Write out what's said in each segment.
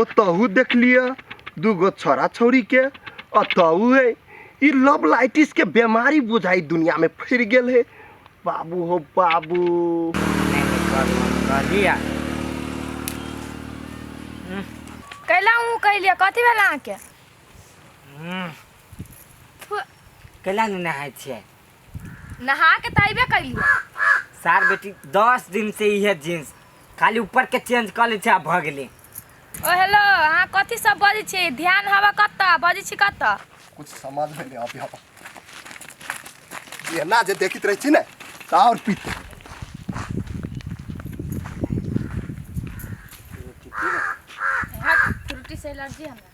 ओतहु देख लिअ दूगो छोरा छौरीके अतहु है ई लव लाइटिसके बेमारी बुझाइ दुनियामे फैल गेल है बाबू हो बाबू कैला हूँ कैलिए कथी भेल अहाँके कैला नहि नहाय छियै नहा के तो अबे कैली सार बेटी दस दिन से इहे जींस खाली ऊपर के चेंज कर ले आ भगले ओ हेलो अहाँ कथी सब बजै छी ध्यान हवा कतऽ बजै छी कतऽ कुछ समझ में नहीं आती हवा ये ना जे देखित रही थी ना ता और पीते हट फ्रूटी से एलर्जी हमरा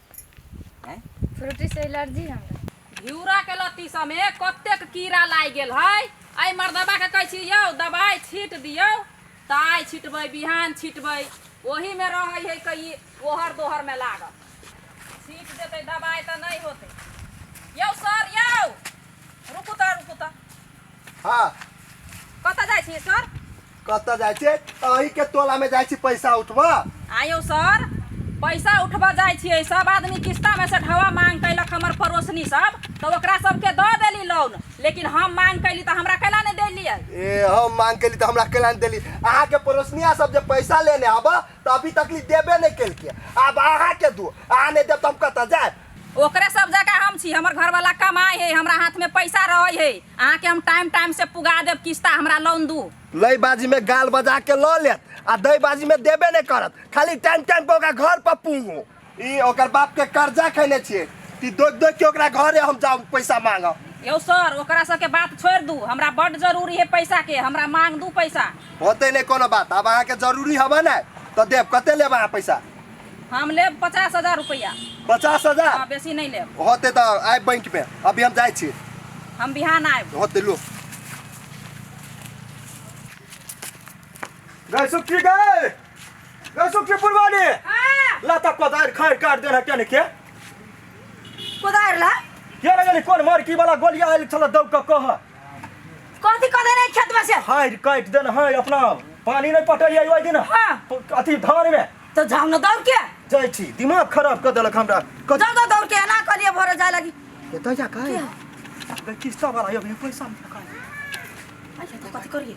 फ्रूटी से एलर्जी हमरा घिउरा के लत्ती सब में कतेक कीड़ा लागि गेल है एहि मर्दबा के कहै छी यौ दवाई छीट दियौ तऽ आइ छिटबै बिहान छिटबै ओही में रहै है कई ओहर दोहर में लागल छीट देतै दवाई तऽ नहि होतै यौ सर यौ रुकू तऽ रुकू तऽ हाँ कतऽ जाइ छियै सर कतऽ जाइ छियै अही के टोला में जाइ छी पैसा उठबऽ आयो सर पैसा उठबऽ जाइ छियै सब आदमी किस्ता में से ढवा मांग कैलक हमर पड़ोसनी सब तो ओकरा सबके दऽ देली लोन लेकिन हम मांग कैली तो हमरा कैला नहीं देलियै ए हम मांग कैली तो हमरा कैला नहीं देली अहाँ के पड़ोसनिया सब जे पैसा लेने आबऽ तऽ अभी तक ले देबे नहि केलकै आब अहाँके दू अहाँ नहि देब तऽ हम कतऽ जायब ओकरे सब जगह हम छी हमर घरवाला कमाए है हमरा हाथ में पैसा रहे है अहाँ के हम टाइम टाइम से पुगा देब किस्ता हमरा लोन दू लय बाजी में गाल बजा के लऽ लेत आ दय बाजी में देबे नहि करत खाली टाइम टाइम पर ओकरा घर पर पूंगू ई ओकर बाप के कर्जा खैले छिए कि दोग दोग के ओकरा घरे हम जाऊ पैसा मांगा यो सर ओकरा सबके बात छोड़ दू हमरा बड जरूरी है पैसा के हमरा मांग दू पैसा होते नहीं कोनो बात अब अहाँ के जरूरी हवा ना तो देव कते लेब अहाँ पैसा हम लेब पचास हजार रुपया पचास हजार हाँ, बेसी नहीं लेब होते तो आए बैंक में अभी हम जाए छी हम बिहान आयब होते लो गए सुखी गए सुखी पुरवानी हाँ। ला तक कोदार खैर काट देना क्या के कोदार ला ये ना जानी कौन मार की वाला गोलियां आइल छला दब का कह कथी कह देने खेत में से हाय काट देना हाय अपना पानी नहीं पटल आई ओइ दिन हाँ। प- अथी धान में तो जाम न दौड़ के जाय छी दिमाग खराब कर देलक हमरा कद जाम न दौड़ के ना करिए भोरे जाए लगी एता जा काय किस्ता वाला यो पैसा में का अच्छा तो कथी करिए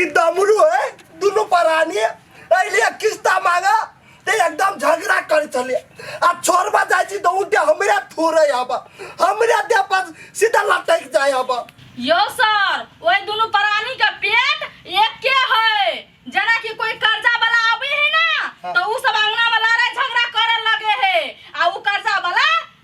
ई दमरू है दुनू परानी अइलिए किस्ता मांगा ते एकदम झगड़ा करे चलिए आ छोड़बा जाइ छी तऽ उठे हमरे थोड़े आबा हमरे देह पर सीधा लटक जाए आबा यो सर ओए दुनू प्राणी के पेट एके है जना कि कोई कर्जा वाला आवे है ना तो उ सब अंगना में लड़ाई झगड़ा करे लगे है आ उ कर्जा वाला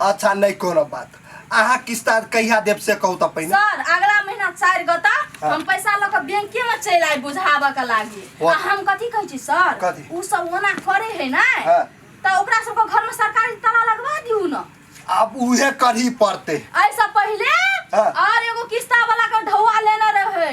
अच्छा नहीं कोनो बात अहाँ किस्ता कहिया देब से कहू त पहिने सर अगला महीना चारि गो तक हाँ। हम पैसा लऽ कऽ बैंके में चलि आइ बुझाबऽ के लागी वाह। आ हम कथी कहै छी सर कथी? उ सब ओना करे है ने हाँ। तऽ ओकरा सबके घर में सरकारी ताला लगवा दियौ ने अब उहे करही पड़ते ऐसा पहिले हाँ। और एगो किस्ता वाला के ढौआ लेने रहे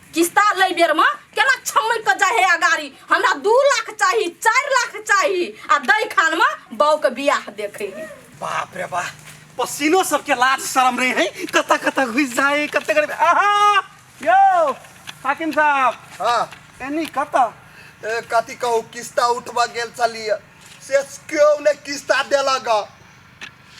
किस्ता लै बेरमे केना छमैक कऽ जाइ हे अगाड़ी हमरा दू लाख चाही चारि लाख चाही आ दै खानमे बाउके बियाह देखै हे बाप रे बाप पसीनो सबके लाज शरम रहे है कत कत घुस जाए कत करे आहा यो हाकिम साहब हाँ एनी कत ए, कथी कहू किस्ता उठबऽ गेल छलियै से केओ नहि किस्ता देलक हँ।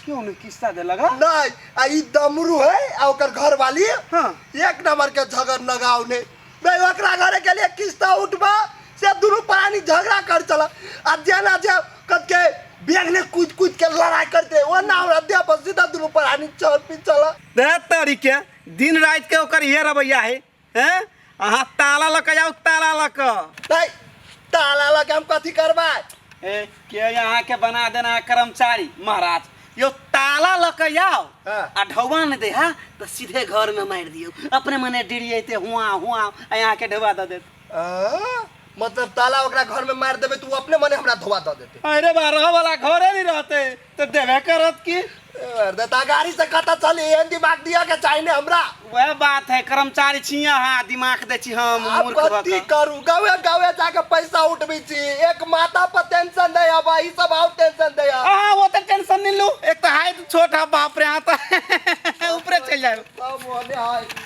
क्यों नहीं किस्सा दे लगा नहीं आ ई दमरू है आ ओकर घर वाली हाँ। एक नंबर के झगड़ लगाव ने नहीं ओकरा घरे के लिए किस्ता उठबा से दुनू प्राणी झगड़ा कर चला आ जेना जे कद के बेग ने कूद कूद के लड़ाई करते वो ना हमरा देह पर सीधा दुनू प्राणी चल पी चला दे तरीके दिन रात के ओकर ये रवैया है हैं अहाँ ताला लऽ कऽ जाउ ताला लऽ कऽ तै ताला लऽ के हम कथी करबै ए, के यहाँ के बना देना कर्मचारी महाराज यो ताला लऽ के जाओ हाँ। आ ढौवा ने दे हा तो सीधे घर में मार दियो अपने मने डिरियते हुआ हुआ आ यहाँ के ढौवा दे देत आ, मतलब ताला ओकरा घर में मार देबै तऽ ओ अपने मने हमरा धोआ दऽ देतै अरे बा रह वाला घरे नहीं रहते तो देवे करत की अरे ता गाड़ी से कता चली एहन दिमाग दिया के चाही ने हमरा वह बात है कर्मचारी छिया हाँ दिमाग दे छी हम आप मूर्ख भऽ कथी कऽ। करू गावे गावे जाके पैसा उठबी छी एक माता पर टेंशन दे अब ई सब आउट टेंशन दे अहाँ वो तो टेंशन नहीं लू एक तो हाइट छोट है बाप रे हाँ तो ऊपरे चल जाए सब होने है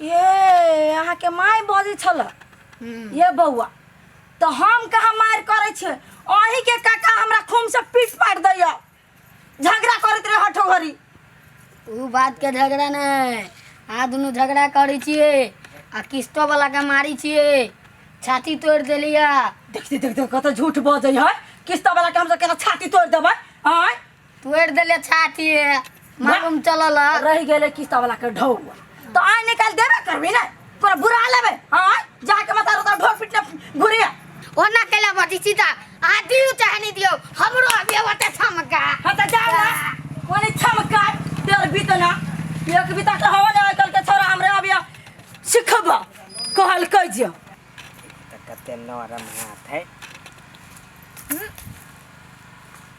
ये अहाँके माय बजै छल ये बौआ तो हम कहाँ मार करे छे अही के काका हमरा खूम से पीट पाट दैया झगड़ा करत रहे हठो घरी उ बात के झगड़ा नहीं आ दुनू झगड़ा करे छिए आ किस्तो वाला के मारी छिए छाती तोड़ देलिया देखते देखते कत झूठ बजै है किस्त वाला के हमसे केना छाती तोड़ देबै आय तोड़ देले छाती मालूम चलल ह। रह गेले किस्ता वाला के ढौआ तो आय निकाल देबे करबी ना तोरा बुरा लेबे हां जाके मत रोता ढोर पिटने घुरी ओना केला बटी सीता आ दियो चाहे नहीं दियो हमरो अभी वटे छमका हां त जा ना कोने छमका तेर बीतना एक बीता के हवा ना कल के छोरा हमरे अभी सिखबा कहल कहियो कते नरम हाथ है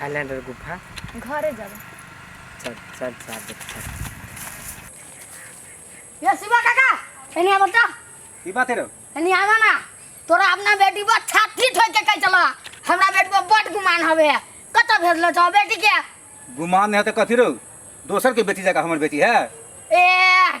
हाइलैंडर गुफा घरे जाबे चल चल चार देखा ये शिवा काका एनी आबो त की बात है रे एनी आवा ना तोरा अपना बेटी पर छाती ठोक के कह चला हमरा बेटी पर बड गुमान हवे कत भेजलो छ बेटी के गुमान नहीं है तो कथी रो दोसर के बेटी जगह हमर बेटी है ए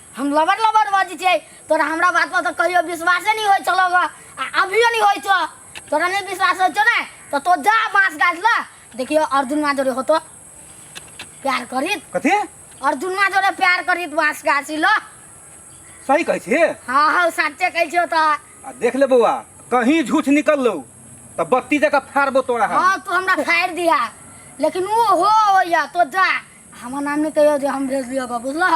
हम लबर लबर बाजी छै तोरा हमरा बात पर तो कहियो विश्वास नहीं होय चलो गा आ अभियो नहीं होय छो तोरा नहीं विश्वास होय छो ना तो तो जा बांस गाछ ल देखियो अर्जुन मा जोरे होतो प्यार करित कथी अर्जुन मा जोरे प्यार करित बांस गाछी ल सही कहै छी हां हां सच्चे कहै छियो त आ देख ले बौआ कहीं झूठ निकल लो तो बत्ती जगह फाड़बो तोरा हम हां तू हमरा फाड़ दिया लेकिन वो हो होया तो जा हमर नाम नहीं कहियो जे हम भेज दियो गा बुझलह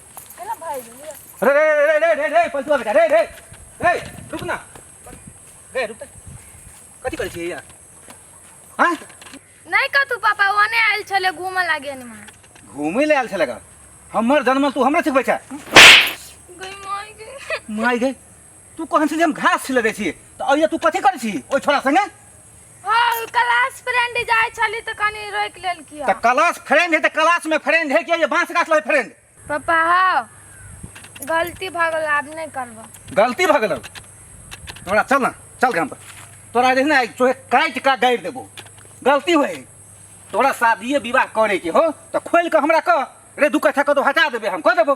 अरे रे रे रे रे रे पलटुआ बेटा रे रे रे रुक ना रे रुक कथी करै छियै यहाँ हाँ नहीं कतू पापा ओने आयल छले घूमे लागे नमा घूमै ले आयल छलै गा हमर जन्मल तू हमरा सिखबै छै गई माय गई माय गई तू कहन छी जे हम घास छिलबै छी तऽ अइया तू कथी करै छी ओइ छोरा संगे हाँ क्लास फ्रेंड जाय छली तो कनी रोक लेल किया तऽ क्लास फ्रेंड है तऽ क्लास में फ्रेंड है कि ये बांस गाछ लगे फ्रेंड पापा हाँ गलती भऽ गेल आब नहीं करबो गलती भऽ गेलौ तोरा चल ना चल घर पर तोरा जे ना तोहे काटि का गाड़ि देबो गलती होय तोरा शादिये विवाह करे के हो तऽ खोल के हमरा कह रे दू कट्ठा कतौ हटा देबे हम कह देबो